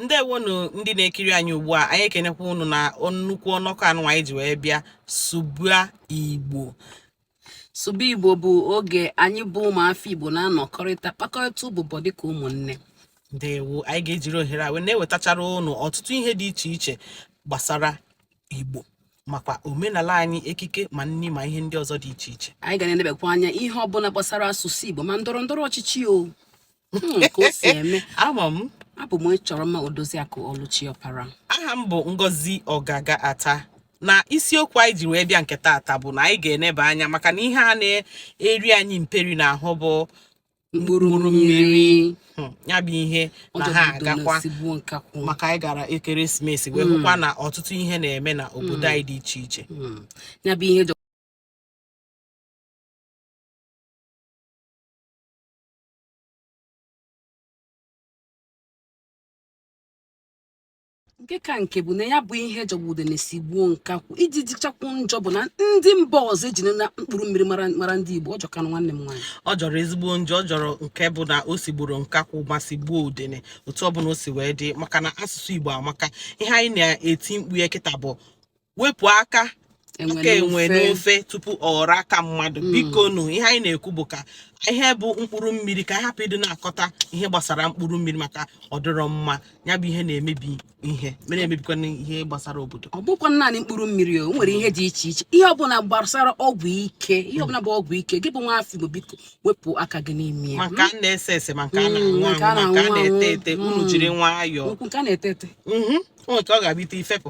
ndewonu ndị na-ekiri anyị ugbu a anyị ekenekwa unu na nnukwu ọnọkọ anụwa anyị ji wee bịa sụba igbo sụba igbo bụ oge anyị bụ ụmụafọ igbo na-anọkọrịta kpakọrịta ụbụbọ dịka ụmụnne ndewo anyị ga-ejiri ohere a wee na-ewetachara unu ọtụtụ ihe dị iche iche gbasara igbo makwa omenala anyị ekike ma nni ma ihe ndị ọzọ dị iche iche anyị ga na-enebekwa anya ihe ọbụla gbasara asụsụ igbo ma ndọrọ ndọrọ ọchịchị o hmm, ka o si eme ama m abụ m chọrọ mma odoziakụ ọlụchi ọpara aha m bụ ngozi ọgaga ata na isiokwu anyị ji wee bịa nke taata bụ na anyị ga-eneba anya maka na ihe a na-eri anyị mperi n'ahụ bụ mkpụrụ mmiri hmm, ya bụ ihe na ha agakwa maka anyị gara ekeresimesi wee hmm. hụkwa na ọtụtụ ihe na-eme na obodo anyị dị iche iche ya bụ ihe nke ka nke bụ na ya bụ ihe jọgbu udene sigbuo nkakwụ ihe ji dịchakwu njọ bụ na ndị mba ọzọ ejirina mkpụrụ mmiri mara ndị Igbo ọ jọkanụ nwanne m nwaanyị ọ jọrọ ezigbo njọ ọ jọrọ nke bụ na o sigburu nkakwụ ma sigbuo udene otu ọ bụla o si wee dị maka na asụsụ Igbo amaka ihe anyị na-eti mkpu ya kịta bụ wepụ aka aka enwe n'ofe tupu ọ ghọrọ aka mmadụ hmm. bikonu ihe anyị na-ekwu bụ ka ihe bụ mkpụrụ mmiri ka ị hapụ ịdị na-akọta ihe gbasara mkpụrụ mmiri maka ọ dịrọ mma ya bụ ihe na-emebi ihe ma na-emebikwa ihe gbasara obodo ọ bụkwa naanị mkpụrụ mmiri o nwere ihe dị iche iche ihe ọbụla gbasara ọgwụ ike ihe ọbụla bụ ọgwụ ike gị bụ nwa afọ igbo biko wepụ aka gị n'ime ya ma nke a na-ese ese ma nke a na-aṅụ hmm, aṅụ ma nke a na-ete ete unu hmm. jiri nwayọọ nke a na-ete ete nke ọ ga-abịa ite ifepụ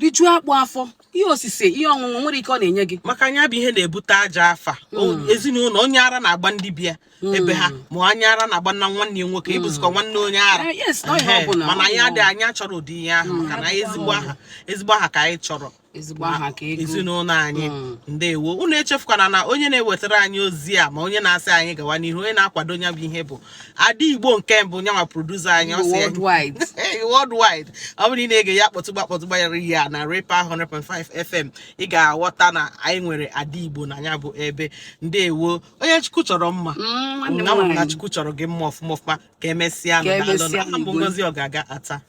rijuo akpụ afọ ihe osise ihe ọṅụṅụ nwere ike ọ na-enye gị maka na ya bụ ihe na-ebute ajọ afa hmm. ezinụlọ onye ara na-agba ndị be ya hmm. ebe ha ma onye ara na-agba na nwanne ya nwoke hmm. ị bụzikwa nwanne onye ara eh, mana anyị adịghị anyị achọrọ ụdị ihe ahụ maka na ezigbo aha ezigbo aha ka anyị chọrọ ezinụlọ anyị ndewo unu echefukwana na onye na-ewetara anyị ozi a ma onye na-asị anyị gawa n'ihu onye na-akwado ya bụ ihe bụ ada igbo nke mbụ nyanwa producer anyị ọ sị ya- worldwide Hey, worldwide ọ bụrụ na ị na-ege ya kpọtụgba kpọtụgba ya ihe a na repa 100.5 fm ị ga-aghọta na anyị nwere ada igbo na ya bụ ebe ndewo onye chukwu chọrọ mma Mm, nwanne m Nna m na nwaanyị. chukwu chọrọ gị mma ọfụma ọfụma ka emesịa Ka nụ, daalụ nụ. emesịa, Aha m bụ Igwe. ngozi ọgaga ata